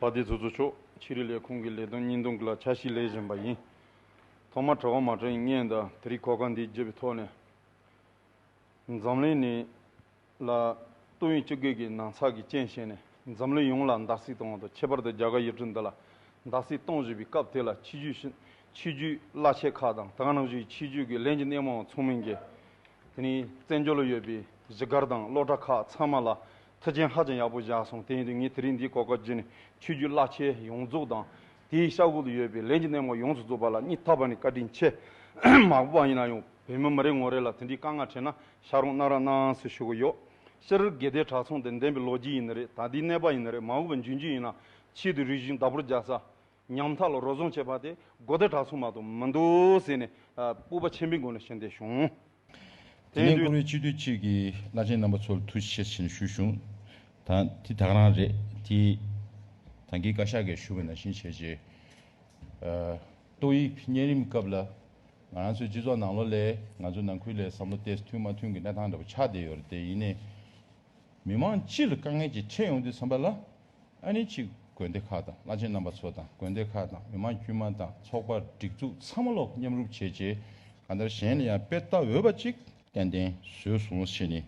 པ་དེ་ཚོ་ཚོ་ཆོག་ཕྱི་རི་ལས་ཁུངས་ཀྱི་ལས་དོན་གཉིས་འདུམ་ལ་ཆ་བཞི་ལས་བཞིན་པ་ཡིན། ཐོག་མར་གྲྭ་བ་མ་དྲིན་སྙན་དང་དེ་རིགས་གོ་སྐ་འདི་བརྗེ་བའི་ཐོག་ནས། འཛམ་གླིང་ནི་ལ་སྟོད་ཡུལ་སྤྱི་སྒེར་གྱི་ནང་ཚགས་ཀྱི་རྐྱེན་བཞེས་ནས་འཛམ་གླིང་ཡོངས་ལ་འདག་སིག་གཏོང་བ་དང་ཁྱད་པར་དུ་རྒྱ་གར་ཡུལ་གྲུ་འདི་ལ་འདག་སིག་གཏོང་བཞིན་པའི་སྐབས་དེ་ལ་ཕྱི་རྒྱུད་ཆོས་བརྒྱུད་བླ་ཆེན་ཁག་དང་ད་གནང་བཞུགས་ཆོས་བརྒྱུད་ཀྱི་ལས་ཀྱི་སྣེ་མོའང་ཚོགས་མིན་གྱི། དེ་ནི་བཙན་བྱོལ་ལ་ཡོད་པའི་གཞིས་སྒར་དང་སློབ་གྲྭ་ཁག་ཚང་མ་ལ་མཐུ་ཆེན་ཧ་ཅང་ཡག་པོ་བཞག་སོང་དེ་ཡིན་དུས་ངས་དེ་རིང་འདིའི་གོ་སྐབས་བརྒྱུད་ནས་ཆོས་བརྒྱུད་བླ་ཆེན་ཡོངས་རྫོགས་དང་དེའི་ཤག་ཁུག་ཏུ་ཡོད་པའི་ལས་ཀྱི་སྣེ་མོ་ཡོངས་སུ་རྫོགས་པ་ལ་སྙིང་ཐག་པ་ནས་བཀའ་དྲིན་ཆེ། མ་གོ་བ་ཡིན་ན་ཡང་བོད་མི་མི་རེ་ངོ་རེ་ལ་དེ་འདྲའི་དཀའ་ངལ་འཕྲད་ན་ཤག་རོང་གནང་ར་གནང་ཟེར་ཞུ་གི་ཡོད། ཤི་རིར་དགེ་ལྡན་གྲྭ་ཚང་དེ་འདེམས་པའི་ལོ་རྒྱུས་ཡིན་ནི་རེད་ད་དེའི་གནས་པ་ཡིན་ནི་རེད་མ་གོ་བའི་འཇུན་འཇུན་ཡིན་ན་ཆེད་དུ་རིག་གཞུང་བདག་པོར་རྒྱག་ས། ཉམ་ཐག་ལ་རོལ་བཟང་བྱེད་པ་དེ་དགོ་སྡེ་གྲྭ་ཚང་མ་དུ་མི་འདུག་ཟེར་ནས་སྤུ་བ་ཆེན་པོའི་སྒོ་ནས་ཕྱིར་འདེད་བྱུང། དེ་ནས་ཀུ་རེ་སྤྱི་འཐུས་གཅིག་གིས་བླ་ཆེན་རྣམ་པ་ཚོར་ཐུགས་རྗེ་ཆེ་ཞེས་ནས་ཞུ་བྱུང། ད་དེ་དག་རང་རེད་དེ། ད་འགའི་བཀའ་ཤག་གིས་ཞུ་བའི་ན་བཞིན་བྱས་རྗེས། ཏོག་དབྱིབས་གཉན་རིམས་སྐབས་ལ་ང་རང་ཚོའི་སྤྱི་ཚོགས་ནང་ལོ་ལས་ང་ཚོའི་ནང་ཁུལ་ལས་བསམ་བློ་གཏད་སོ་མཐུན་མ་མཐུན་གྱི་གནས་སྟངས་འདྲ་པོ་ཆགས་བསྡད་ཡོད་རེད་དེ་ཡིན་ནས། མི་དམངས་སྤྱི་ལ་དཀའ་ངལ་གྱིས་ཁྲེལ་ཡོང་དུས་འཚམ་པ་ལ། ཨ་ནི་ཕྱི་དགོན་སྡེ་ཁག་དང་བླ་ཆེན་རྣམ་པ་ཚོ་དང་དགོན་སྡེ་ཁག་དང་མི་དམངས་དཀྱུས་མ་དང་ཚོགས་པ་སྒྲིག་འཛུགས་ཚང་མ་ལོག་མཉམ་རུབ་བྱས་རྗེས་གང་ལྟར་གཞན་ལ་ཡང་དཔེ་ལྟ་འོས་པ་ཅིག་ཏན་ཏན་བཟོས་སོང་ཞེས་ནི་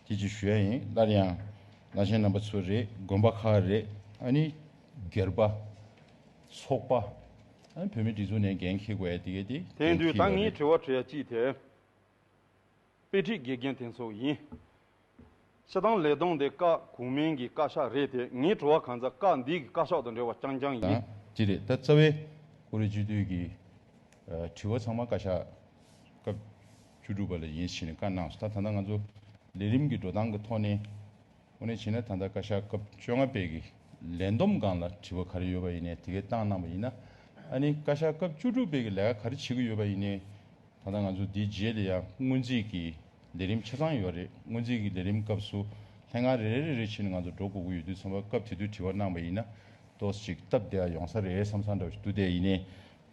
ཐེ་ཇི་ཞུ་ཡ་ཡིན་སླར་ཡང་བླ་ཆེན་རྣམ་པ་ཚོ་རེད་དགོན་པ་ཁག་རེད་ཨ་ནི་སྒེར་པ། ཚོགས་པ། ཨ་ནི་བོད་མིའི་སྒྲིག་འཛུགས་ནས་འགན་འཁྱེར་དགོས་ཡ་དེ་གས་དེ་འགན་འཁྱེར་ཡ་རེད། དེང་དུས་ད་ངས་དྲི་བ་དྲིས་ཡ་ཅིག་དེ་དཔེ་ཁྲིད་དགེ་རྒན་དེ་ཚོ་ཡིན། ཕྱི་དང་ལས་དང་དེ་བཀའ་གོང་མན་གྱི་བཀའ་ཤག་རེད་དེ་ངའི་བྲོ་བ་གང་ཚ་བཀའ་འདིའི་གི་བཀའ་ཤག་དང་འབྲེལ་བ་རྐྱང་རྐྱང་ཡིན། དང་ཅི་རེད་ད་རྩ་བའི་ཀུ་རེ་བཅུ་དུས་ཀྱི་དྲི་བ་ཚང་མ་བཀའ་ཤག་སྐབས་བཅུ་དྲུག་པ་ལ་ཡིན་ཕྱིན་བཀའ་གནང་སོ་ད་ད་ལྟ་ང་ཚོ་ལས་རིམ་གྱི་འགྲོ་སྟངས་ཀྱི་ཐོག་ནས་ཨོ་ནས་བྱིན་ན་ད་ལྟ་བཀའ་ཤག་སྐབས་བཅོ་ལྔ་པའི་གི་ལས་བསྡོམས་སྒང་ལ་དྲི་བ་ག་རེ་ཡོད་པ་ཡིན་ནས་དེ་གས་བཏང་གནང་པ་ཡིན་ན་ཨ་ནི་བཀའ་ཤག་སྐབས་བཅུ་དྲུག་པའི་གི་ལས་ཀ་ག་རེ་བྱེད་ཀྱི་ཡོད་པ་ཡིན་ནས་ད་ལྟ་ང་ཚོ་འདིའི་རྗེས་ལ་ཡང་སྔོན་རྩིས་ཀྱི་ལས་རིམ་ཆ་ཚང་ཡོད་རེད་སྔོན་རྩིས་ཀྱི་ལས་རིམ་སྐབས་སུ་ལྷན་ཁང་རེ་རེ་རེ་རེ་བྱས་ནས་ང་ཚོ་འགྲོ་དགོས་ཀྱི་ཡོད་དུས་ཚང་མ་སྐབས་དེ་དུས་དྲི་བ་གནང་བ་ཡིན་ན་ཏོག་ཅིག་སྟབས་བདེ་བ་ཡོང་ས་རེད་བསམ་ས་འདྲ་བོ་ཞིག་འདུག་དེ་ཡིན་ནའི་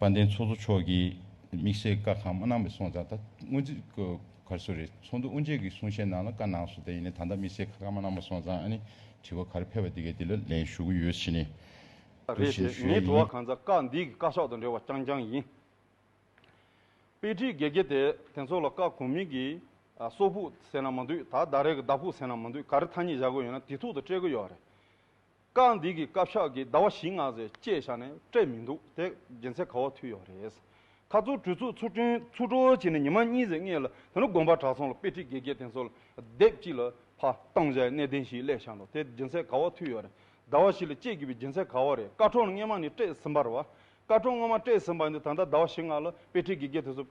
དཔལ་ལྡན་ཚོགས་གཙོ་མཆོག་གིས་དམིགས་བསལ་བཀའ་གང་མ་གནང་མི་སོང་ཙང་ད་སྔོན་རྩིས་གར་སོ་རེད་ཚོགས་འདུ་དབུ་འབྱེད་ཀྱི་གསུང་བཤད་ནང་ལ་བཀའ་གནང་སོ་དེ་ཡིན་ནའི་ད་ལྟ་དམིགས་བསལ་ཁ་གང་མ་གནང་མ་སོང་ཙང་ཨ་ནི་དྲི་བ་ག་རེ་ཕེབས་པ་དེ་གའི་དེ་ལ་ལན་ཞུ་གི་ཡོད་བྱས་ནས་འདུག་རེད་བྱས་ནས་ཞུས་ཡས་ངའི་དྲི་བ་ཡིན། གང་ཙམ་བཀའ་འདིའི་གི་བཀའ་ཤོག་དང་འབྲེལ་བ་རྐྱང་རྐྱང་ཡིན། དཔེ་ཁྲིད་དགེ་རྒན་དེས་དེ་ཚོ་ལ་བཀའ་གོང་མིང་གི་སོག་ཕུག་ཟེར་ན་མ་འདུག་ད་ཟླ་རེ་གི་ཟླ་ཕུག་ཟེར་ན་མ་འདུག་ག་རེ་ཐ་སྙད་བཞག་དགོས་ཡོད་ན་དེ་ཐུག་ཏུ་སྤྲད་གི་ཡོད་རེད། བཀའ་འདི་གི་བཀའ་ཕྱག་གི་ཟླ་བ་བཞི་ལྔ་ཟེར་བཅད་བཞག་ནས་སྤྲད་མི་འདུག་དེ་རྒྱན་ཚད་ག་བ་ཐུག་ཡོད་རེད། ཁ་ཚུར་གྲོས་ཚུགས་ཚུར་སྐྲུན་ཚུར་འགྲོ་བྱས་ནས་ཉི་མ་གཉིས་ཟེར་ལྔས་ལ་དེ་ནས་དགོན་པ་གྲགས་ཚང་ལ་དཔེ་ཁྲིད་དགེ་རྒན་དེ་ཚོ་ལ་དེབ་ཅིག་ལ་ཕ་བཏང་བྱས་གནས་བརྟན་ཞིག་གླས་བཞག་འདུག་དེ་རྒྱན་ཚད་ག་བ་ཐུག་ཡོད་རེད། ཟླ་བ་བཞི་ལ་སྤྱད་དགོས་པའི་རྒྱན་ཚད་ག་བ་རེད་བཀའ་ཁྲོལ་སྔས་མ་ནས་སྤྲད་ཟིན་པར་བ་སྐར་གྲངས་སྔོན་མ་སྤྲད་ཟིན་པ་འདི་ད་ལྟ་ཟླ་བ་བཞི་ལྔ་ལ་དཔེ་ཁྲིད་ཀྱི་དགེ་དེ་ཚོ།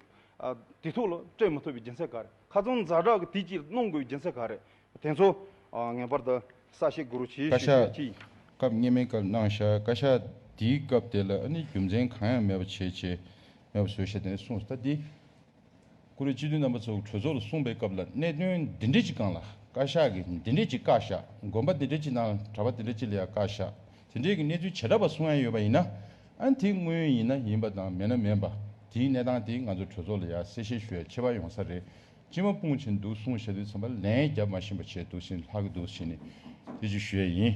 དེ་ཐུགས་ལ་སྤྲད་མི་ཐུབ་པའི་སྦྱིན་སྲེག་ག་རེ་ཁ་ཚོན་འཛག་དྲག་གི་དུས་ཀྱི་གནོང་དགོས་པའི་སྦྱིན་སྲེག་ག་རེ་དེ་ཚོ། ངེས་པར་དུ་ས་གཤེགས་གུ་རུ་ཆེའི་བཀའ་ཞུ་ཤེས་ཤིག། ཤག། སྐབས་སྙན་མའི་སྐབས་གནང་ཤག་བཀའ་ཤག་འདིའི་སྐབས་དེ་ལ་ཨ་ནི་རྒྱུ་མཚན་གང་ཡང་མེད་པ་བྱེད་བྱེད་མེད་པ་བཟོས་ཤག་དེ་ནས་གསུངས་སོ་ད་འདི། ཀུ་རེ་སྤྱི་འཐུས་རྣམ་པ་ཚོ་གྲོས་ཚོགས་ལ་གསུངས་པའི་སྐབས་ལ་གནད་དོན་འདི་འདྲའི་ཅིག་གང་ལ་བཀའ་ཤག་གིས་འདི་འདྲའི་ཅིག་བཀའ་ཤག་དགོན་པ་འདི་འདྲའི་ཅིག་དང་གྲྭ་པ་འདི་འདྲའི་ཅིག་ལ་ཡང་བཀའ་ཤག་དེ་འདྲའི་གི་གནས་ཚུལ་བྱེ་བྲག་པ་གསུངས་ཡ་ཡོད་པ་ཡིན་ན་ཨ་དེ་དངོས་ཡིན་ན་ཡིན་པ་དང་མེད་ན་མེད་པ་དེའི་གནས་སྟངས་དེ་ང་ཚོ་གྲོས་ཚོགས་ལ་ཡང་གསལ་བཤད་ཞུ་ཡ་ཆེ་བ་ཡོང་ས་རེད་སྤྱི་མ་སྤུངས་བྱེད་འདུག་གསུངས་བྱེད་འདུག་ཚང་པ་ལན་རྒྱབ་མ་བཞིན་པ་བྱེད་འདུག་བཞིན་ལྷག་གི་འདུག་བཞིན་ནི་དེ་ཅིག་ཞུ་ཡ་ཡིན།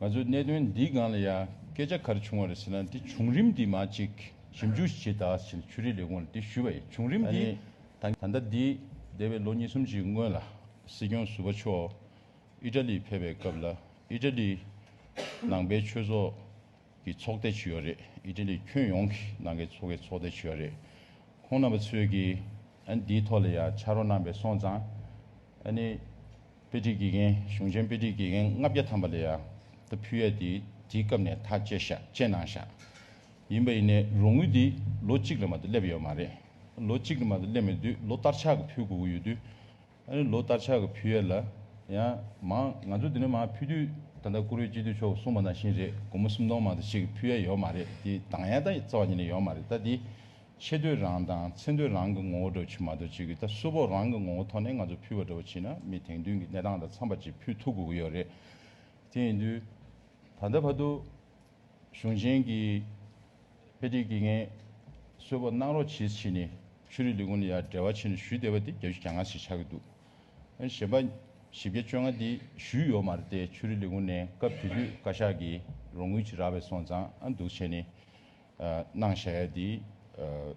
ང་ཚོས་གནད་དོན་འདིའི་སྒང་ལ་ཡང་སྐད་ཆ་ག་རེ་བྱུང་བ་རེད་ཟེར་ན་དེ་བྱུང་རིམ་དེ་མ་གཅིག་ཞིབ་འཇུག་བྱེད་དང་ཟེར་ནས་ཆུ་རིའི་ལས་ཁུངས་ལ་དེ་ཞུས་པ་ཡིན་བྱུང་རིམ་དེ་ད་ལྟ་འདི་འདས་པའི་ལོ་གཉིས་གསུམ་གྱི་སྔོན་ལ་སྲིད་སྐྱོང་ཟུར་པ་མཆོག་ཨི་ཏྲ་ལི་ཕེབས་པའི་སྐབས་ལ་ཨི་ཏྲ་ལི་ནང་པའི་ཆོས་ཚོགས་ཀྱི་ཚོགས་སྡེ་བྱུས་ཡོད་རེད་ཨི་ཏྲ་ལི་ཁྱོན་ཡོངས་ཀྱི་ནང་པའི་ཚོགས་ཀྱི་ཚོགས་སྡེ་བྱུས་ཡོད་རེད་ཁོང་རྣམ་པ་ཚོས་ཀྱིས་འདིའི་ཐོག་ལ་ཡང་ཕྱག་རོགས་གནང་པས་སོང་ཙང་ཨ་ནི། དཔེ་སྒྲིག་དགེ་རྒན་གཞུང་ཆེན་དཔེ་སྒྲིག་དགེ་རྒན་ལྔ་བརྒྱ་ཐམ་པ་ལས་ཡང་ད་ཕུལ་ཡ་དེ་དེའི་སྐབས་ནས་ཐག་བཅད་བཞག་བཅད་གནང་བཞག་ཡིན་པ་ཡིན་ནས་རོགས་དངུལ་དེ་ལོ་གཅིག་ལ་མ་དུ་སླེབས་ཡོད་མ་རེད་ལོ་གཅིག་ལ་མ་དུ་སླེབས་མེད་དུས་ལོ་བསྟར་ཆག་གི་ཕུལ་དགོས་ཀྱི་ཡོད་དུས་ཨ་རི་ལོ་བསྟར་ཆག་གི་ཕུལ་ཡ་ལ་ཡང་མང་ང་ཚོ་དེ་ནས་མང་ཕུལ་དུས་ད་ལྟ་བཀུར་འོས་སྤྱི་འཐུས་མཆོག་གསུངས་པ་ནང་བཞིན་རེད་སྒོར་མོ་སུམ་སྟོང་མང་དུ་ཆེད་ཀྱི་ཕུལ་ཡ་ཡོད་མ་རེད་དེ་དང་ཡ་ད་རྩ་བ་ཉིད་ནས་ཡོད་མ་རེད་ད་དེ་ཆེ་འདོད་རང་དང་ཚེ་འདོད་རང་གི་ངོ་བོ་འགྲོ་བྱེད་མ་འགྲོ་བྱེད་ཀྱི་ད་གཟུ་བོ་རང་གི་ངོ་བོ་ཐོག་ནས་ང་ཚོ་ཕུལ་བ་འགྲོ་བ་བྱེད་ན་མི་དེང་དུས་ཀྱི་གནས་སྟངས་དང་འཚམ་པ་ཅིག་ཕུལ་ཐུབ་དགོས་ཀྱི་ཡོད་རེད། དེ་ཡིན་དུས། ད་ལྟ་བར་དུ། གཞུང་ཆེན་གྱི། དཔེ་ཁྲིད་ཀྱི་ངས། གསོལ་བ་གནང་རོགས་བྱེད་ཕྱིན་ནས་ཆོས་རིག་ལས་ཁུངས་ལ་ཡར་འབྲེལ་བ་བྱས་ནས་ཞུས་བསྡད་པ་དེ་བརྒྱ་ཆུ་གྱ་ལྔ་ཞིག་ཆགས་ཀྱི་འདུག་གཞན་པ། བཞི་བརྒྱ་བཅོ་ལྔ་དེ་ཞུས་ཡོད་མ་རེད་དེ་ཆོས་རིག་ལས་ཁུངས་ནས་སྐབས་དེ་དུས་བཀའ་ཤག་གིས་རོགས་དངུལ་ཅིག་རག་པའི་སོང་ཙང་འདུག་བྱས་ནས། སྣང་བཞག་ཡས་དེ།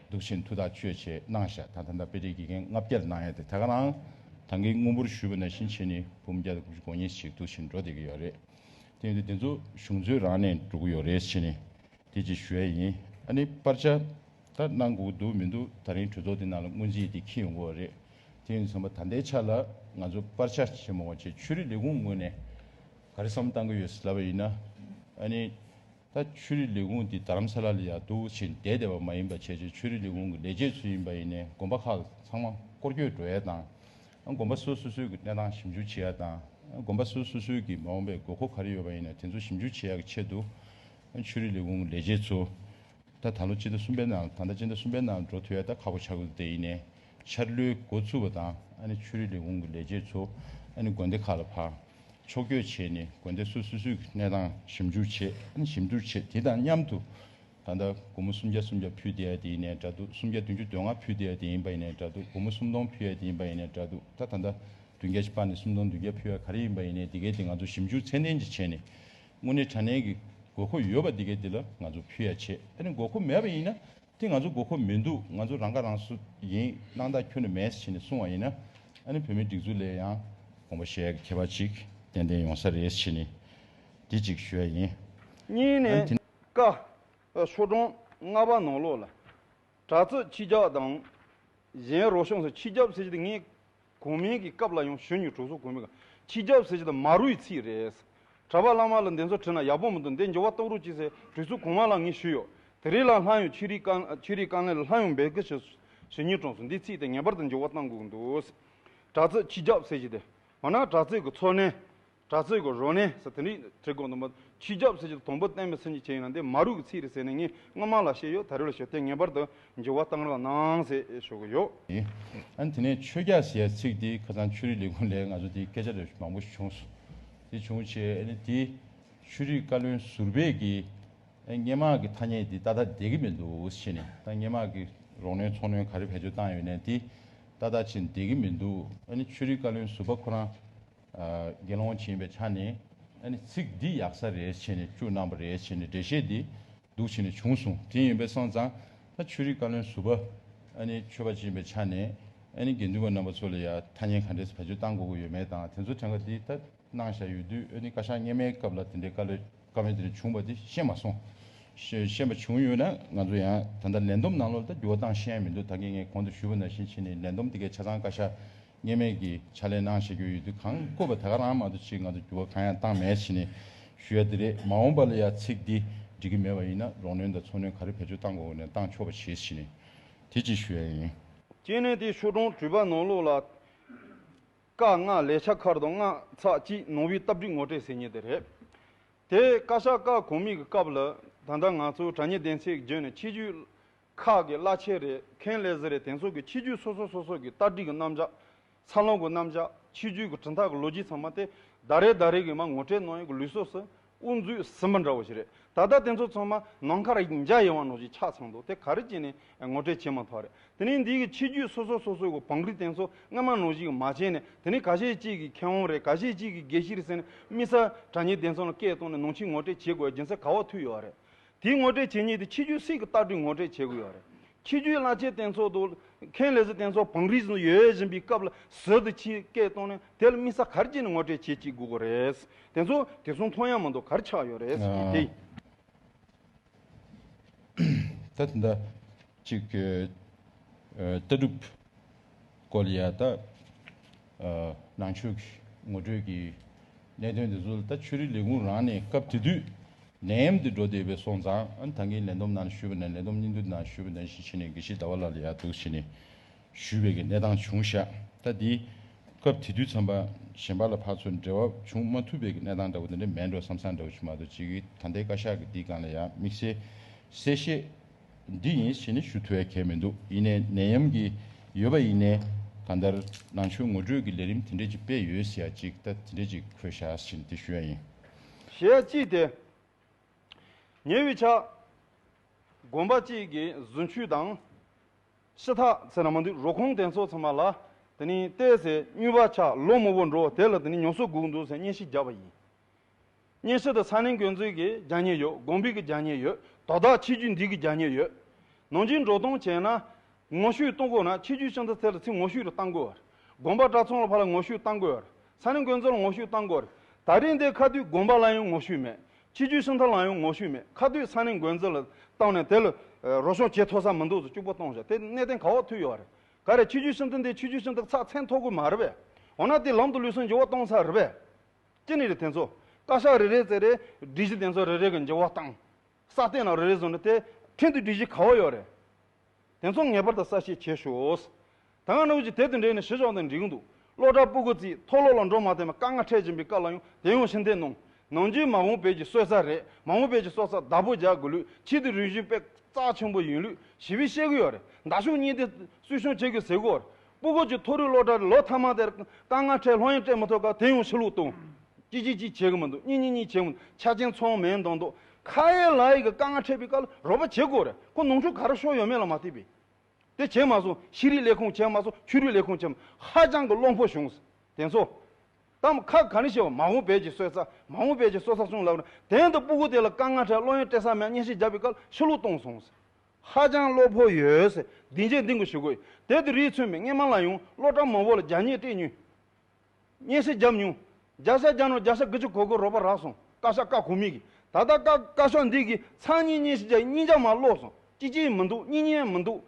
གདུག་ཆེན་མཐུ་དང་གཅོད་བྱེད་སྣང་བཞག་དང་ཐ་མདའ་དཔེ་བྲིས་དགེ་རྒན་ལྔ་བརྒྱར་སྣང་ཡས་དེ་ད་ག་ནའང་དང་གི་དངོས་པོར་ཞུས་པ་ན་བཞིན་ཕྱིན་ནི་འབུམ་བརྒྱ་དང་དགུ་བཅུ་གོ་གཉིས་ཤིག་གདུག་ཆེན་འགྲོ་དེ་གི་ཡོད་རེད་དེ་ཡིན་དུས་དེ་ཚོ་གཞུང་ཚོའི་རང་ནས་འགྲོ་གི་ཡོད་རེད་ཕྱིན་ནི་དེ་ཅིག་ཞུ་ཡས་ཡིན་ཨ་ནི་པར་ཆ་ད་གནང་གུག་འདུག་མི་འདུག་ད་རིང་གྲོས་ཚོགས་དེ་ནང་ལ་སྔོན་རྩིས་དེ་ཁྱི་ཡོང་གི་འོ་རེད་དེ་ཡིན་ཚང་མ་ད་ལྟའི་ཆ་ལ་ང་ཚོ་པར་ཆ་ཆེན་མོ་བ་ཆེ་ཆུ་རི་ལས་ཁུངས་ངོས་ནས་ག་རེ་བསམ་བཏང་གི་ཡོད་ཟླ་བ་ཡིན་ན་ཨ་ནི་ད་ཆོས་རིག་ལས་ཁུངས་འདི་དརམ་ས་ལ་ལ་ཡག་སྡུག་ཕྱིན་བསྡད་བསྡད་པ་མ་ཡིན་པ་བྱས་བྱས་ཆོས་རིག་ལས་ཁུངས་ཀྱི་ལས་བྱེད་ཚོ་ཡིན་པ་ཡིན་ནས་དགོན་པ་ཁག་ཚང་མ་སྐོར་སྐྱོད་འགྲོ་ཡ་དང། དགོན་པ་སོ་སོ་སོས་ཀྱི་གནས་སྟངས་ཞིབ་འཇུག་བྱེད་ཡ་དང། དགོན་པ་སོ་སོ་སོས་ཀྱི་མ་འོངས་པའི་དགོས་མཁོ་ག་རེ་ཡོད་པ་ཡིན་ནས་དེ་ཚོ་ཞིབ་འཇུག་བྱེད་ཡ་གི་ཆེད་དུ། ཆོས་རིག་ལས་ཁུངས་ཀྱི་ལས་བྱེད་ཚོ། ད་ད་ལོ་སྤྱི་ཟླ་གསུམ་པའི་ནང་ད་ལྟ་སྤྱི་ཟླ་གསུམ་པའི་ནང་འགྲོ་ཐུ་ཡ་ད་ཁག་པོ་ཆགས་ཀྱི་འདུག་དེ་ཡིན་ནས། འཆར་ལོའི་འགོ་ཚུགས་པ་དང་ཆུ་རིས་ལས་ཁུངས་ཀྱི་ལས་བྱེད་ཚོ་དགོན་སྡེ་ཁག་ལ་ཕར་ཕྱོགས་སྐྱོད་བྱས་ནས་དགོན་སྡེ་སོ་སོའི་སུས་ཀྱི་གནས་སྟངས་ཞིབ་འཇུག་བྱེད་ཞིབ་འཇུག་བྱེད་དེ་དང་མཉམ་དུ་ད་ལྟ་སྒོར་མོ་སུམ་བརྒྱ་སུམ་བརྒྱ་ཕུལ་བསྡད་ཡ་དེ་ཡིན་ནའི་འདྲ་འདུག་སུམ་བརྒྱ་བདུན་ཅུ་དོན་ལྔ་ཕུལ་བསྡད་ཡ་དེ་ཡིན་པ་ཡིན་ནའི་འདྲ་འདུག་སྒོར་མོ་སུམ་སྟོང་ཕུལ་ཡ་དེ་ཡིན་པ་ཡིན་ནའི་འདྲ་འདུག་ད་ད་ལྟ་བདུན་བརྒྱ་ཆ་སྤར་ནས་སུམ་སྟོང་བདུན་བརྒྱ་ཕུལ་ཡ་ག་རེ་ཡིན་པ་ཡིན་ནའི་དེ་གའི་དེ་ང་ཚོ་ཞིབ་འཇུག་ཚད་ལྡན་གྱིས་བྱས་ནས་དངོས་གནས་དྲ་གནས་ཀྱི་དགོས་མཁོ་ཡོད་པ་དེ་གའི་དེ་ལ་ང་ཚོ་ཕུལ་ཡ་བྱེད་དགོས་མཁོ་མེད་པ་ཡིན་ན་དེ་ང་ཚོ་དགོས་མཁོ་མི་འདུག་ང་ཚོ་རང་ཁ་རང་སོ་ཡིན་གནང་དང་ཁྱོད་ནས་མེད་ཟེར་ནས་གསུང་བ་ཡིན་ན་ཨ་ནི་བོད་མིའི་སྒྲིག་འཛུགས་ལས་ཡང་གོང་བུ་ཞེས་མཁས་པ་ཅིག་ཏན་ཏན་ཡོང་ས་རེད་ཕྱིས་ནས་དེ་ཅིག་ཞུ་ཡ་ཡིན། གཉིས་ནས་ཨ་ནི་དེ། ཀ། ཆོས་གྲོང་རྔ་པ་ནང་ལོགས་ལ། གྲྭ་བཙུན་ཁྱི་རྒྱག་དང། གཞན་རོ་གཤོངས་སུ་ཁྱི་རྒྱབ་ཟེར་གྱི་འདུག་ངས་གོང་མིན་གྱི་སྐབས་ལ་ཡང་གཞོན་ནུའི་གྲོགས་སུ་གོ་མི་དགའ། ཁྱི་རྒྱབ་ཟེར་གྱི་དང་མ་རུའི་ཚིག་རེད། གྲྭ་པ་བླ་མ་ལ་འདི་ཚོ་བྲིས་ན་ཡག་པོ་མི་འདུག་འདི་འགྱུར་བ་གཏོང་རོགས་གྱིས་ཟེར་གྲོས་ཚུལ་གོང་མ་ལ་ངས་ཞུས་ཡོད། དེ་རིང་ལ་ལྷ་ཡང་ཆོས་རིག་ཀང་ཆོས་རིག་ཀང་ལས་ལ་ལྷ་ཡང་འབད་ཀི་ཞུས་གཞོན་ནུའི་གྲོགས་སུ་འདི་ཚིག་དེ་ངེས་པར་དུ་འགྱུར་བ་གཏང་དགོས་ཀི་འདུག། དྲག་རྩེད་ཁྱི་རྒྱབ་ཟེར་གྱི་དེ། འོ་ན་དྲག་རྩེད་ཀི་འཚོ་གནས། གྲྭ་བཙུན་གྱི་རོ་ནི་ཟེར་དེ་འདྲའི་གྲི་གུག་དང་ཆུ་རྒྱབ་ཟེར་གྱི་དོམ་བུ་བསྟན་པའི་ཚུལ་གྱིས་བྱས་ཡོད་ན་འདི་མ་རུ་གི་ཚིག་རེད་ཟེར་ནས་ངས་སྔོན་མ་ལ་བཤད་ཡོད་ད་རེ་ལ་ཞུ་དེ་ངེས་པར་དུ་འགྱུར་བ་གཏང་རོགས་གནང་ཞེས་ཞུ་གི་ཡོད། ཡིན། དེ་ནས་ཆོས་རྒྱལ་ཟེར་ཚིག་དེ་ཁ་སང་ཆོས་རིག་ལས་ཁུངས་ལས་ང་ཚོ་དེ་སྐད་ཆ་རེ་མང་པོ་བྱུང་སོང། དེ་བྱུང་རྗེས་དེ་ཆོས་རིག་བཀའ་བློན་ཟུར་བས་ཀྱིས་སྙན་མག་གི་ཐ་སྙད་དེ་ད་ལྟ་བསྡད་ཀྱི་མི་འདུག་ཞེས་ནས་ད་སྙན་མག་གི་རོགས་སྣོན་ཚོགས་སྣོན་ག་རེ་བེད་སྤྱོད་བཏང་ཡོད་ནས་དེ་ད་ལྟ་ཕྱིན་བསྡད་ཀྱི་མི་འདུག་ཆོས་རིག་བཀའ་བློན་ཟུར་པ་ཁོ་རང་དགེ་སློང་བྱིན་པའི་ཆ་ནི། ཚིག་འདི་ཡག་ས་རེད་བྱས་ནས་བཅུ་རྣམ་པ་རེད་བྱས་ནས་འགྲེལ་བཤད་འདི་འདུག་བྱས་ནས་བྱུང་གསུངས་དེ་ཡིན་པས་སོང་ཙང་ཆོས་རིག་བཀའ་བློན་ཟུར་པ། ཆོས་པ་བྱིན་པའི་ཆ་ནས། དགེ་འདུན་པ་རྣམ་པ་ཚོ་ལ་ཡང་ཐ་སྙད་ག་འདྲས་སུ་བེད་སྤྱོད་བཏང་དགོས་དགོས་ཡོད་མེད་དང་དེ་ཚོ་ཕྲན་ག་འདི་ལྟར་གནང་བཞག་ཡོད་དུས་བཀའ་ཤག་སྙེ་མའི་སྐབས་ལ་དེ་འདྲའི་བཀའ་བློན་བཀའ་བོན་དེ་འདྲ་བྱུང་བ་དེ་ཤེས་མ་སོང། ཤེས་པ་བྱུང་ཡོད་ན་ང་ཚོ་ཡང་ད་ལྟ་ལན་འདུམ་གནང་ལོ་ལ་ད་འགྱུར་བ་བཏང་ཤེས་ཡ་མི་འདུག་ད་གིན་ངས་གོང་དུ་ཞུས་པ་ནང་བཞིན་བྱས་ནས་ལན་འདུམ་དེ་གའི་ཆ་ཚང་བཀའ་ཤག་ངེས་མེད་ཀྱི་ཕྱག་ལས་གནང་ཞེས་བརྗོད་ཡོད་དུས་གང་བཀོད་པ་དེ་ག་རང་མ་གཏོགས་ཕྱིའི་ང་ཚོ་འགྱུར་བ་གང་ཡང་བཏང་མེད་ཕྱིན་ནས་ཞུ་ཡ་དེ་རེད་མ་འོངས་པ་ལ་ཡང་ཚིག་འདི་འགྲིག་གི་མེད་པ་ཡིན་ན་རོགས་ནོན་དང་ཚོགས་ནོན་ག་རེ་བེད་སྤྱོད་བཏང་གོ་ནས་བཏང་ཆོག་པ་བྱས་ཕྱིན་ནས་དེ་གཅིག་ཞུ་ཡ་ཡིན། གཅིག་ནས་དེ་ཤོ་གྲོང་དྲུས་པ་ནོར་ལུག་ལ་དཀའ་སྔ་ལས་ཆ་ཁར་དུ་སྔ་ཚགས་གཅིག་ནོར་བུའི་སྟབས་འགྲིག་ངོ་སྤྲད་ཟེར་ཉེ་དེ་རེད། དེ་བཀའ་ཤག་བཀའ་གོ་མིག་གི་སྐབས་ལ་ད་ལྟ་ང་ཚོའི་དྲ་ཉེ་བདེན་ཚིག་བརྗོད་ནས་ཕྱི་རྒྱུད་ཁག་གི་བླ་ཆེན་རེ་མཁན་ལས་བཟི་རེ་དེང་སོགས་ཀྱི་ཕྱི་རྒྱུད་སོ་སོ་སོ་སོ་ཀྱི་ལྟ་ཁྲིད་ཀྱི་རྣམ་བཞག། འཚར་ལོངས་ཀྱི་རྣམ་བཞག་ཕྱི་རྒྱུད་ཀྱི་གྲི་འཐག་གི་ལོ་རྒྱུས་ཚང་མ་སྟེ། ཟླ་རེ་ཟླ་རེ་གིས་མ་ངོ་སྤྲད་ནང་ཡང་གི་ལུས་སོགས་སུ་དབུ་འཛུགས་ཟིན་པ་འདྲ་བོ་ཞིག་རེད། ད་ལྟ་དེ་ཚོ་ཚང་མ་ནང་ཁར་ཡིག་འཇའ་ཡི་བང་ནོར་ཞིག་ཆགས་ཚང་འདུག་དེ་ག་རེ་བྱས་ནས་ངོ་སྤྲད་བྱས་མ་ཐག་རེད། དེ་ནས་འདི་གི་ཕྱི་རྒྱུད་སོ་སོ་སོ་སོའི་གོ་བང་གིས་དེང་སོགས་སྔ་མ་ནོར་ཞིག་མ་བྱས་ནས་དེ་ནས་ག་ཤེད་ཅིག་གི་མཁས་དབང་རེ་ག་ཤེད་ཅིག་གི་དགེ་བཤེས་རེ་ཟེར་ནས་དམིགས་བསལ་དྲ་ཉེ་བདེན་ཚང་ལ་སྐད་བཏང་ནས་ནང་ཆེན་ངོ་སྤྲད་བྱེད་དགོས་པའི་སྦྱིན་སྲེག་ག་བ་ཐུག་ཡོད་རེད། དེའི་ངོ་སྤྲོད་བྱེད་ཉེས་དེ་ཕྱི་རྒྱུད་སྲིད་ཀྱི་ལྟ་གྲུས་ངོ་སྤྲོད་བྱེད་དགོས་ཡོད་རེད། ཕྱི་རྒྱུད་བླ་ཆེན་རྟེན་ཚོགས་འདུ། མཁན་ལས་བཟོ་རྟེན་ཚོགས་བང་རིས་ནང་ཡོད་བཞིན་པའི་སྐབས་ལ་ཟུར་དུ་ཕྱིའི་སྐད་གཏོང་ནས་དེ་ལ་དམིགས་ས་གར་བྱས་ནས་ངོ་སྤྲོད་བྱེད་ཅིག་དགོས་དགོས་རེད། དེ་ཚོ་དེ་ཚོ་མཐོང་ཡ་མི་འདུག་གར་ཆགས་ཡོད་རེད། དེ། གཅིག་གི་ལྟ་གྲུབ་སྐོར་ལ་ཡང་དག་ནང་ཆོས་ཀྱི་ངོ་སྤྲོད་ཀྱི་གནད་དོན་དེ་ཚོ་ལ་ད་ཆོས་རིག་ལས་ཁུངས་རང་ནས་སྐབས་དེ་དུས་ནད་ཡམས་དེ་འགྲོ་བསྡད་པའི་སོང་ཙང་ད་ངས་ལས་འདོམས་ནང་ཞུས་པ་ནས་ལས་འདོམས་སྙིང་བསྡུས་ནང་ཞུས་པ་ནས་གཞི་བྱས་ནས་དགེ་བཤེས་ཟླ་བ་ལགས་ལ་ཡག་སྡུག་བྱས་ནས་ཞུས་པའི་གནས་སྟངས་བྱུང་ཤག་ད་འདི་སྐབས་དེ་དུས་འཚམས་པ་གཞན་པ་ལ་ཕར་ཚུར་འབྲེལ་བ་བྱུང་མ་ཐུབ་པའི་གནས་སྟངས་འདྲ་བོ་དེ་འདྲ་མེད་འགྲོ་བསམ་བསམ་འདྲ་བོ་བྱུང་མ་གཏོགས་གཅིག་གི་ད་ལྟའི་བཀའ་ཤག་གི་འདི་གང་ལ་ཡང་དམིགས་བསལ་གསལ་བཤད་འདི་ཡིན་ཞེས་ནི་ཞུ་ཐོའི་གལ་མི་འདུག་ཡིན་ནའི་ནད་ཡམས་ཀྱི་ཡོད་པ་ཡིན་ནའི་ག་མདར་ནང་ཆོས་ངོ་སྤྲོད་ཀྱི་ལས་རིམ་དེ་འདྲས་ཅིག་སྤེལ་ཡོད་ཟེར་ཡ་ཅིག་ལྟ་དེ་འདྲས་ཅིག་ཁོས་ཤ་ཞེན་དེ་ཞུ་ཡ་ཡིན། ཞེས་ཡ་ཅིག་དེ། ཉེ་བའི་ཆ། དགོན་པ་ཅིག་གི་གཟུན་ཆུས་དང། ཤི་ཐག་ཚེ་ན་མ་འདུས་རོ་ཁོང་དེ་ཚོ་ཚང་མ་ལ་དེ་ནི་བལྟས་ཟེར་སྨྱོས་པ་ཆ་ལོ་མོ་བོ་འགྲོ་དེ་ལ་དེ་ནི་ཉོ་སོ་སྒུག་འདུག་ཟེར་སྙན་ཞིག་བརྒྱབ་པ་ཡིན། གཉེན་སྲོལ་དང་ས་གནས་འགོས་མཛོད་ཀྱི་རྒྱ་ཉེ་ཡོད་དགོངས་འབུད་ཀྱི་རྒྱ་ཉེ་ཡོད་དོ་བདག་ཆེ་རྒྱུད་འདུས་ཀྱི་རྒྱ་ཉེ་ཡོད། ནང་སྤྱིར་འགྲོ་གཏོང་བྱས་ན། ངོ་བཤུས་གཏོང་དགོས་ན་ཆེ་རྒྱུད་ཤང་ཚ་ཚེ་ལ་ཚིག་ངོ་བཤུས་རུ་གཏང་དགོས་བར། དགོན་པ་གྲྭ་ཚང་ལ་ཕ་ལ་ངོ་བཤུས་གཏང་དགོས་བར། ས་གནས་འགོས་མཛོད་ལ་ངོ་བཤུས་གཏང་དགོས་བར། ད་རིང་འདིར་ཁ་དུས་དགོན་པ་ལ་ཡང་ངོ་བཤུས་མེད། ཆེ་རྒྱུད་ཤང་ཚ་ལའང་ཡང་ངོ་བཤུས་མེད་ཁ་དུས་ས་གནས་འགོས་མཛོད་ལ་བཏང་ནས་དེ་ལ། རོ་གཤོང་ཇེ་མཐོ་ས་མི་འདུག་ཚོ་སྐྱུག་པ་གཏོང་བཞག་དེ་གནས་བརྟན་ག་འོག་ཐུག་ཡོད་བར། ག་རེ་ཆེ་རྒྱུད་ཤང་ཚ་འདི་ཆེ་རྒྱུད་ཤང་ཚ་ཚགས་ཚན་ཐོག་དགོས་མ་རེད་པས། འོ་ན་དེ་ལམ་དུ་ལུས་སོན་འགྱུར་བ་གཏོང་ས་རེད་པས། སྐྱེ་གནས་རི་དེ་ཚོ། བཀའ་ཤག་རེ་རེའི་རྩེ་རེ། སྒྲིག་གཞི་དེ་ཚོ་རེ་རེ་གི་འགྱུར་བ་དང། ས་སྟེང་ལ་རེ་རེ་བཟོ་ན་དེ་ཁྲིན་དུ་སྒྲིག་གཞི་ག་བ་ཡོད་རེད། དེ་ཚོ་ངེས་པར་དུ་གསལ་བཤད་བྱེད་ཤོགས། ད་སྔ་ནོར་བུ་ཇི་དེད་དུ་འདྲེས་ནས་ཞི་ཞོག་དང་འགྲིག་གི་འདུག་སློ་གྲྭ་སྤུ་གུ་རྩིས་མཐོ་སློབ་ལ་འགྲོ་མ་ཐེ་མ་དཀའ་ངལ་འཕྲད་བཞིན་པའི་སྐབས་ལ་ཡང་དེ་ཡོང་ཕྱིན་དེ་གནོང། ནང་རྒྱུད་མ་བོང་བེད་ཀྱི་གསོད་ས་རེད་མ་བོང་བེད་ཀྱི་གསོད་ས་བདག་པོ་རྒྱག་དགོས་ལུགས་ཕྱི་དུ་རིག་གཞུང་དཔེ་རྩག་ཆེན་པོ་ཡིན་ལུགས་ཞི་བས་བཤད་གི་ཡོད་རེད་མདའ་གཞུང་གཉིས་དེ་སུས་ཤོང་བྱེད་དགོས་ཟེར་གི་འོ་སྤུ་རྒོད་ཀྱི་ཐོ་རུས་གློག་དྲར་ལོ་ཚང་མ་དེར་དཀའ་ངལ་འཕྲད་ལྷོད་གཡེང་སྤྲད་མི་ཐུབ་ཁར་དེ་ཡང་ཕྱི་ལུགས་བཏང། ཅིག་ཅིག་ཅིག་བྱེད་གི་མི་འདུག་གཉིས་གཉིས་གཉིས་བྱེད་གི་འདུག་ཆ་རྐྱེན་ཚང་མའི་མདོག་མདོག་ཁ་ཡེ་ལ་ཡེ་གི་དཀའ་ངལ་འཕྲད་པའི་སྐབས་ལ་རོགས་པ་བྱེད་དགོས་རེད་ཁོ་ནང་ཆོས་ག་རེ་ཤོར་ཡོད་མེད་ལ་མ་བལྟས་པས། དེ་བྱས་མ་སོང་ཤེས་རིག་ལས་ཁུངས་བྱས་མ་སོང་ཆོས་རིག་ལས་ཁུངས་བྱས་ཧ་ཅང་གི་བློ་འཕོ་བྱུང། དེ་ཚོ། དམ་ཁ་ག་རེ་བྱས་པ་མ་འོངས་བལ་གྱི་སོད་ཚ་མ་འོངས་བལ་གྱི་སོད་ཚ་གསུངས་ལབ་ན་དེ་འདི་སྤུ་རྒོད་དེ་ལ་དཀའ་ངལ་འཕྲད་ལྷོད་གཡེང་སྤྲད་ས་མེད་བརྙས་བཤད་རྒྱབ་པའི་སྐབས་ལ་ཕྱི་ལུགས་བཏང་སོང། ཧ་ཅང་བློ་ཕོག་ཡོད། འདི་འཇལ་འདི་འགུལ་ཞུ་དགོས། དེ་དུས་རིའི་ཚོས་མི་ངན་མ་ལ་ཡོང་བློ་དྲག་མང་བོ་ལ་རྒྱ་སྙན་སྤྲད་ཉོན། སྙན་སེང་བརྒྱབ་མྱོང། རྒྱ་ས་རྒྱ་ནོར་རྒྱ་ས་དགུ་ཅི་གོ་གོ་རོགས་པ་རག་སོང་བཀའ་ཤག་བཀའ་གོ་མི་གི། ད་ལྟ་བཀའ་བཀའ་ཤག་འདི་གི་ཚང་སྙིང་སྙན་ཞིག་རྒྱ་ཡི་སྙིང་རྒྱ་མ་བསློག་སོང་ཅི་ཅི་ཡི་མི་འདུག་སྙིང་སྙན་མི་འདུག།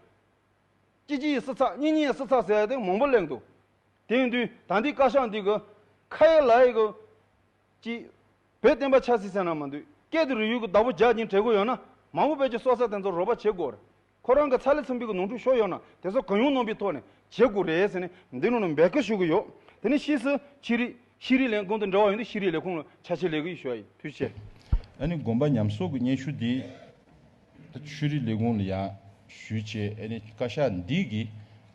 ཅི་ཅི་ཡི་སི་ཚགས་སྙིང་སྙན་སི་ཚགས་ཟེར་ཡ་དེ་མང་བོ་གླེང་འདུག་དེང་དུས་ད་འདི་བཀའ་ཤག་འདི་གི། ཁ་ཡི་ལ་ཡི་གི། ཀྱིས། བོད་བསྟན་པ་ཆགས་སྲིད་སེམས་ན་མ་འདུས། སྐད་དུ་རི་ཡུལ་གྱི་བདག་པོ་ཇག་གྱིན་བྲེལ་དགོས་ཡོད་ན། མང་བོ་བོད་ཀྱི་སྲོག་རྩ་དེ་ཚོར་རོགས་པ་བྱེད་དགོས་རེད། ཁོ་རང་གི་ཚ་ལེ་ཚུམ་བུས་གི་ནོར་འཁྲུལ་ཤོར་ཡོད་ན་དེ་ཚོ་གང་ཡོང་ནོར་བུའི་ཐོག་ནས་བྱེད་དགོས་རེད་ཟེར་ནས་འདི་ནང་ནས་འབད་སྐུལ་ཞུ་གི་ཡོད། དེ་ནས་ཕྱིས་སུ་ཕྱི་རི། ཤི་རི་ལན་གང་དུ་འབྲེལ་བ་ཡོང་དུས་ཤི་རི་ལས་ཁུངས་ལ་ཆ་ཕྱིར་ལས་གི་ཡོད་ཞུ་བ་ཡིན་དུས་བཤད། ཨ་ནི་དགོན་པ་ཉམས་གསོག་གི་སྙན་ཞུ་འདི། ད་ཆུ་རི་ལས་ཁུངས་ལ་ཡང་ཞུས་རྗེས་ཨ་ནི་བཀའ་ཤག་འདིས་གིས་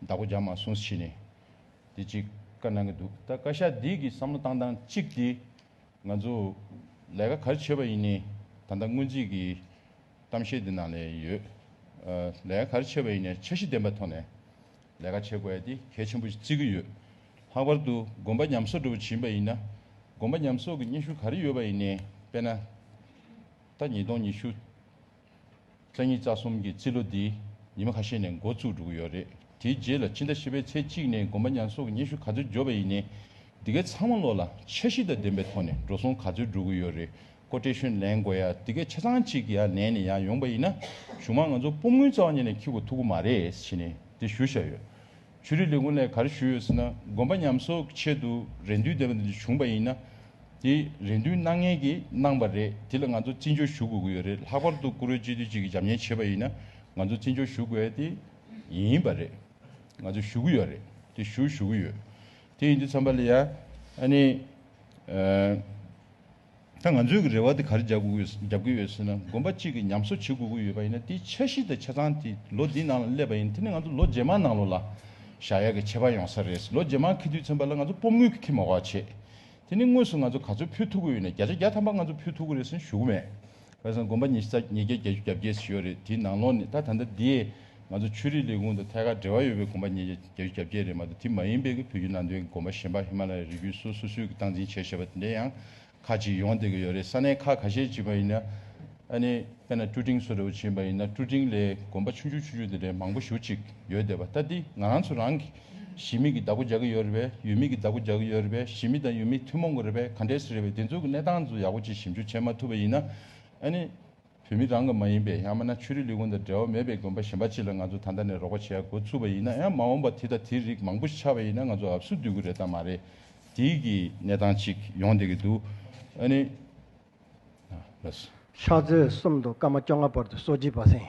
བདག་པོ་རྒྱག་མ་སོང་ཕྱིས་ནས། དེ་གཅིག་བཀའ་གནང་གི་འདུག་ད་བཀའ་ཤག་འདིས་ཀྱིས་བསམ་བློ་བཏང་སྟངས་གཅིག་དེ། ང་ཚོ་ལས་ཀ་གར་བྱེད་པ་ཡིན་ནའི་ད་ལྟ་སྔོན་རྩིས་ཀྱི་གཏམ་བཤད་འདི་ནང་ནས་ཡོད། ལས་ཀ་གར་བྱེད་པ་ཡིན་ནའི་འཆར་གཞི་ལྡན་པའི་ཐོག་ནས་ལས་ཀ་བྱེད་དགོས་ཡ་དེ་གལ་ཆེན་པོ་ཞིག་བརྩི་གི་ཡོད། ལྷག་པར་དུ་དགོན་པ་ཉམས་གསོག་འགྲོ་བ་བྱིན་པ་ཡིན་ན་དགོན་པ་ཉམས་གསོག་གི་སྙན་ཞུ་ག་རེ་ཡོད་པ་ཡིན་ནའི་དཔེ་ན། ད་ཉིས་སྟོང་ཉི་ཤུ། རྩ་གཉིས་རྩ་གསུམ་གྱི་རྩིས་ལོ་འདི་ཉི་མ་ཁ་ཤས་ནས་འགོ་བཙུགས་འགྲོ་གི་ཡོད་རེད། དེའི་རྗེས་ལ་ཕྱི་ཟླ་བཞི་པའི་ཚེས་གཅིག་ནས་དགོན་པ་ཉར་གསོག་གི་སྙན་ཞུ་ག་ཚོད་འབྱོར་བ་ཡིན་ནའི། འདི་གའི་ཚང་མ་བློ་ལ་འཆར་གཞི་དང་ལྡན་པའི་ཐོག་ནས་འགྲོ་སོང་ག་ཚོད་འགྲོ་གི་ཡོད་རེད་ཀོ་ཀྲེ་ཤོན་ལེན་དགོས་ཡ་འདི་གའི་ཆ་ཚང་གཅིག་གི་ཡང་ལེན་ནས་ཡང་ཡོང་པ་ཡིན་ན་གཞུང་མང་ང་ཚོ་སྤོབས་དངུལ་རྩ་བ་ཉིད་ནས་འཁྱིལ་གོ་ཐུག་གོ་མ་རེད་ཕྱིན་ནས་དེ་ཞུ་བཞག་ཡོད། ཆོས་རིག་ལས་ཁུངས་ནས་ག་རེ་ཞུས་ཡོད་ཟེར་ན་དགོན་པ་ཉམས་གསོ་གི་ཆེད་དུ་རེ་འདུན་འདེབས་པ་འདི་བྱུང་པ་ཡིན་ན། དེ་རེ་འདུན་སྣང་ངེས་ཀྱིས་གནང་བ་རེད་དེ་ལ་ང་ཚོ་བརྩི་འཇོག་ཞུ་དགོས་ཀྱི་ཡོད་རེད་ལྷག་པར་དུ་བཀུར་འོས་སྤྱི་འཐུས་གཅིག་གིས་འཇམ་མཉེན་བྱས་པ་ཡིན་ན་ང་ཚོ་བརྩི་འཇོག་ཞུ་དགོས་དེ་ཡིན་པ་རེད། ང་ཚོ་ཞུ་གི་ཡོད་རེད་དེ་ཞུ་ཞུ་གི་ཡོད། དེ་ཡིན་དུས་ཚངས་པ་ལ་ཡང་ཨ་ནི། ད་ང་ཚོས་ཀྱི་རེ་བ་དེ་ག་རེ་རྒྱབ་དགོས་ཡོད་ཟེར་ན་དགོན་པ་གཅིག་གི་ཉམས་གསོ་བྱེད་དགོས་ཀྱི་ཡོད་པ་ཡིན་ན་དེའི་འཆར་གཞི་དང་ཆ་ཚང་དེ་ལོ་འདིའི་ནང་ལ་སླེབས་པ་ཡིན་དེ་ནི་ང་ཚོ་ལོ་རྗེས་མ་ནང་ལོ་ལ་བཞག་ཡག་གི་བྱེད་པ་ཡོང་ས་རེད་ལོ་རྗེས་མ་ཁེ་དུས་ཚན་པ་ལ་ང་ཚོ་སྤོམ་དངུལ་གི་ཁེ་མ་བ་བྱེད་དེ་ནི་དངོས་སུ་ང་ཚོ་ག་ཚོད་ཕུལ་ཐུབ་ཀྱི་ཡོད་ན་བརྒྱ་ཆ་བརྒྱ་ཐམ་པ་ང་ཚོ་ཕུལ་ཐུབ་ཀྱི་རེད་ཟེར་ཞུ་གི་མེད། བ་བཟང་དགོན་པ་ཉིས་ས་ཉིས་བརྒྱ་བརྒྱད་ཅུ་གྱ་བརྒྱད་ཞེས་ཡོད་རེད་དེའི་ནང་ལོགས་ནས་ད་ད་ལྟ་འདིའི་ང་ཚོ་ཆོས་རིག་ལས་ཁུངས་དང་ཐད་ཀར་འབྲེལ་བ་ཡོད་པའི་དགོན་པ་ཉིས་བརྒྱ་བརྒྱད་ཅུ་གྱ་བརྒྱད་རེད་མ་གཏོགས་དེ་མ་ཡིན་པའི་བོད་བརྒྱུད་ནང་དོན་གྱི་དགོན་པ་གཞན་པ་ཧི་མ་ལ་ཡའི་རི་བརྒྱུད་སོགས་སོ་སོའི་གི་སྟངས་འཛིན་བྱས་ཞེས་པ་དེ་འདྲ་ཡང་ཁག་ཅིག་ཡོང་བསྡད་ཀྱི་ཡོད་རེད་ས་གནས་ཁག་ག་ཤེད་ཅིག་པ་ཡིན་ན་ཨ་ནི་དཔེ་ན་ཀྲུ་ཀྲིང་སོ་རེ་བོ་བྱིན་པ་ཡིན་ན་ཀྲུ་ཀྲིང་ལའི་དགོན་པ་ཆུང་ཆུང་ཆུང་ཆུང་དེ་འདྲའི་མང་པོ་བཞུགས་ཅིག་ཡོད་བསྡད་པ་ལྟ་འདི་ང་རང་ཚོ་རང་གི། གཞི་མེད་ཀྱི་བདག་པོ་རྒྱག་གི་ཡོད་རེད་པས་ཡུལ་མེད་ཀྱི་བདག་པོ་རྒྱག་གི་ཡོད་རེད་པས་གཞི་མེད་དང་ཡུལ་མེད་ཐུན་མོང་གི་རེད་པས་ག་འདྲས་སུ་རེད་པས་དེ་ཚོ་གི་གནས་སྟངས་ཚོ་ཡག་པོ་གཅིག་ཞིབ་འཇུག་བྱེད་མ་ཐུབ་པ་ཡིན་ན། ནི། བོད་མི་རང་གི་མ་ཡིན་པའི་ཡང་མ་ན་ཆོས་རིག་ལས་ཁུངས་དང་འབྲེལ་བ་མེད་པའི་དགོན་པ་གཞན་པ་ཅིག་ལ་ང་ཚོ་ད་ལྟ་ནས་རོགས་པ་བྱེད་ཡག་འགོ་ཚུགས་པ་ཡིན་ན་ཡང་མ་འོངས་པ་དེ་དང་དེའི་རིགས་མང་པོ་ཞིག་ཆགས་པ་ཡིན་ན་ང་ཚོ་ཨབ་སུ་སྡུད་གི་རེད་དང་མ་རེད། དེའི་གི་གནས་སྟངས་ཅིག་ཡོང་བསྡད་གི་འདུག་ཨ་ནི། ལབས། ཕྱག་ཚོད་གསུམ་དུ་སྐར་མ་བཅོ་ལྔ་བར་དུ་གསོ་བྱེད་པ་སེང།